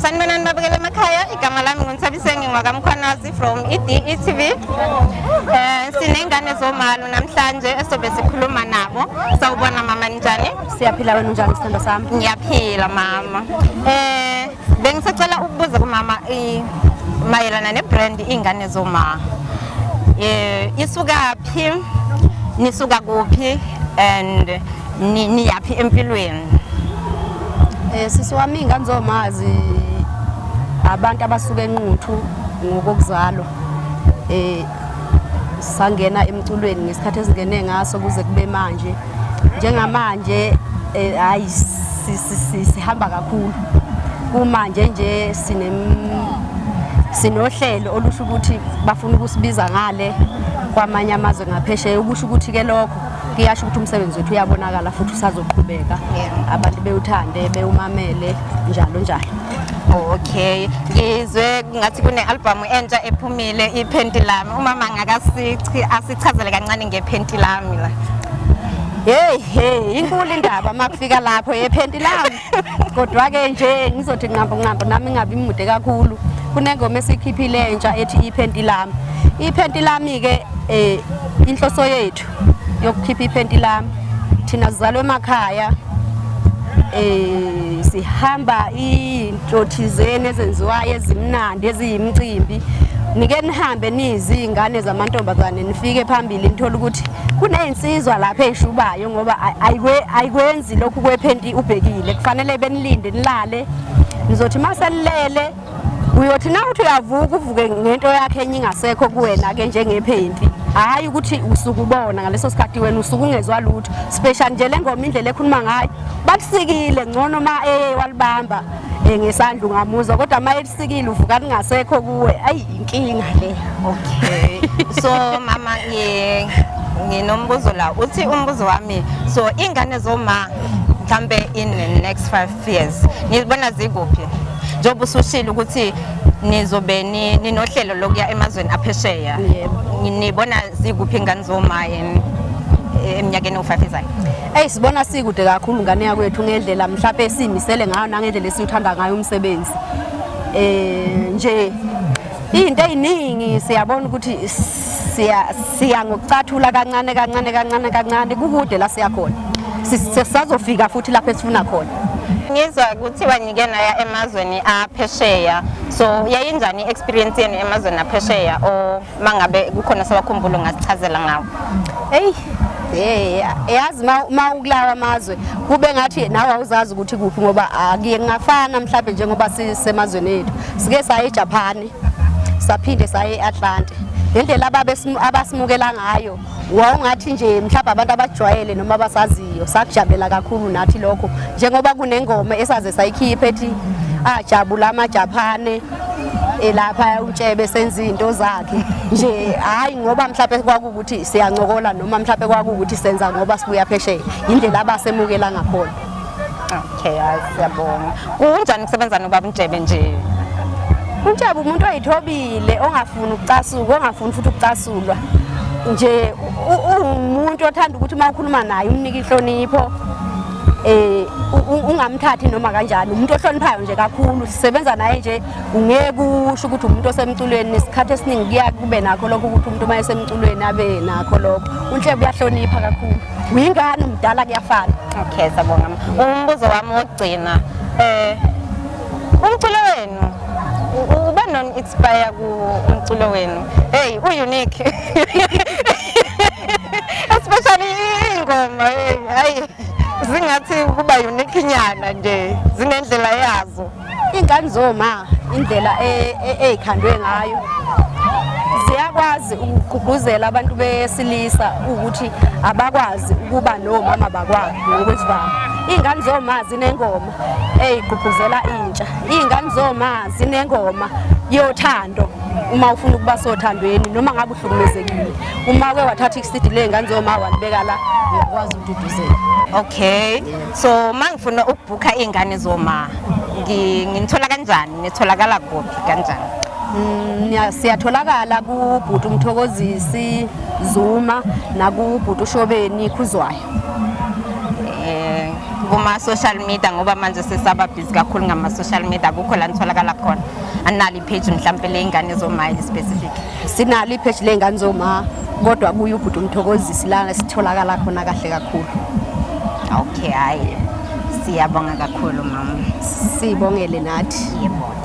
Sanibonani babukela emakhaya igama lami nguNthabiseni ngwakamkhwanazi from EDETV um eh, siney'ngane zomalo namhlanje esobe sikhuluma nabo sawubona mama ninjani siyaphila wena unjani sithando sami ngiyaphila mama um bengisacela ukubuza kumama mayelana nebrand iy'ngane zoma um isukaphi nisuka kuphi and Ni- niyaphi empilweni Eh sisi wami ingane zomazi abantu abasuke enquthu ngokokuzalwa. Eh sangena emculweni ngesikhathi esingene ngaso kuze kube manje. Njengamanje eh hayi si- si- si- sihamba kakhulu. Kumanje nje sine sinohlelo olusho ukuthi bafuna ukusibiza ngale kwamanye amazwe ngaphesheya ukusho ukuthi ke lokho kuyasho ukuthi umsebenzi wethu uyabonakala futhi usazoqhubeka abantu bewuthande bewumamele njalo njalo okay ngizwe ngathi kune-albhamu entsha ephumile iphenti lami umama ngakasichi asichazele kancane ngephenti lami la heyi heyi inkulu indaba uma kufika lapho yephenti lami Kodwa-ke nje ngizothi nqambo nqambo nami ngabi mude kakhulu kunengoma esikhiphile entsha ethi iphenti lami iphenti lami-ke eh inhloso yethu yokukhipha iphenti lami thina sizalwe emakhaya eh sihamba into thizeni ezenziwayo ezimnandi eziyimcimbi nike nihambe nizingane zamantombazane nifike phambili nithola ukuthi kunezinsizwa lapha ezishubayo ngoba ayikwenzi Yazi lokhu kwephenti ubhekile kufanele benilinde nilale nizothi maselilele uyothi na uthi uyavuka uvuke ngento yakhe enye ingasekho kuwena ke njengephenti hayi ukuthi usuke ubona ngaleso sikhathi wena usuke ungezwa lutho special nje le ngoma indlela ekhuluma ngayo bakusikile ngcono ma eye walibamba eh, ngesandla ungamuzwa kodwa ma elisikile uvuka lingasekho kuwe ayi inkinga le okay so mama ngi nginombuzo la uthi umbuzo wami so ingane zoma mhlambe in the next 5 years nizibona zikuphi njengoba usushile ukuthi nizobe ninohlelo lokuya emazweni aphesheya nibona zikuphi ingane zoma yini eminyakeni ewu-5 ezayo eyi sibona sikude kakhulu ngane yakwethu ngendlela mhlawumpe siyimisele ngayo nangendlela esiwuthanda ngayo umsebenzi um nje iy'nto ey'ningi siyabona ukuthi siya ngokucathula kancane kancane kancane kancane kukude la siyakhona sisazofika futhi lapho esifuna khona ngizwa kuthiwa ngike naya emazweni aphesheya so yayinjani i-experience yenu emazweni aphesheya or uma ngabe kukhona sewakhumbula ungasichazela ngawo eyi Eh, yazi uma ukulawa amazwe kube ngathi nawe awuzazi ukuthi kuphi ngoba akuye kungafana mhlawumbe njengoba sisemazweni ethu sike saye eJapan saphinde saye eAtlanta ngendlela ababesimukela ngayo wawungathi nje mhlawumbe abantu abajwayele noma abasaziyo sakujabulela kakhulu nathi lokho njengoba kunengoma esaze sayikhipha ethi ajabula amajaphane elapha utshebe senza izinto zakhe nje hayi ngoba mhlawumbe kwakuwukuthi siyancokola noma mhlawumbe kwakuwukuthi senza ngoba sibuya phesheya indlela abasemukela ngakhona okay hayi siyabonga kunjani ukusebenza nobaba uNjebe nje uNjebe umuntu oyithobile ongafuni ukucasuka ongafuni futhi ukucasulwa nje uwumuntu othanda ukuthi uma ukhuluma naye umnike inhlonipho eh ungamthathi noma kanjani umuntu ohloniphayo nje kakhulu sisebenza naye nje ungeke usho ukuthi umuntu osemculweni nesikhathi esiningi kuya kube nakho lokho ukuthi umuntu uma esemculweni abe nakho lokho unhle uyahlonipha kakhulu uyingane umdala kuyafana okay sabonga umbuzo wami wokugcina eh umculo wenu uba non expire ku umculo wenu hey u unique especially ingoma hey hayi zingathi kuba unique nyana nje zinendlela yazo Ingane zoma indlela eyikhandwe e, ngayo ziyakwazi ukugqugquzela abantu besilisa ukuthi abakwazi ukuba nomama bakwabo ngokwesivama iy'ngane zoma zinengoma eyigqugquzela intsha iy'ngane zoma zinengoma yothando uma ufuna ukuba sothandweni noma ngabe uhlukumezekile uma ke wathatha ikusidi ley'ngane zoma wanibeka la uyakwazi ukududuzela okay yeah. so mangifuna ukubhukha iy'ngane zoma nginithola kanjani nitholakala kuphi kanjani mm, siyatholakala kubhuti umthokozisi zuma nakubhuti ushobeni khuzwayo kuma-social media ngoba manje sesaba busy kakhulu ngama-social media akukho la nitholakala khona analo ipage mhlawumpe ley'ngane zomayile specific Sinalo ipheshi ley'ngane zoma kodwa buye ubhuti umthokozisi lana sitholakala khona kahle kakhulu okay hhayi siyabonga kakhulu mama sibongele nathi yebo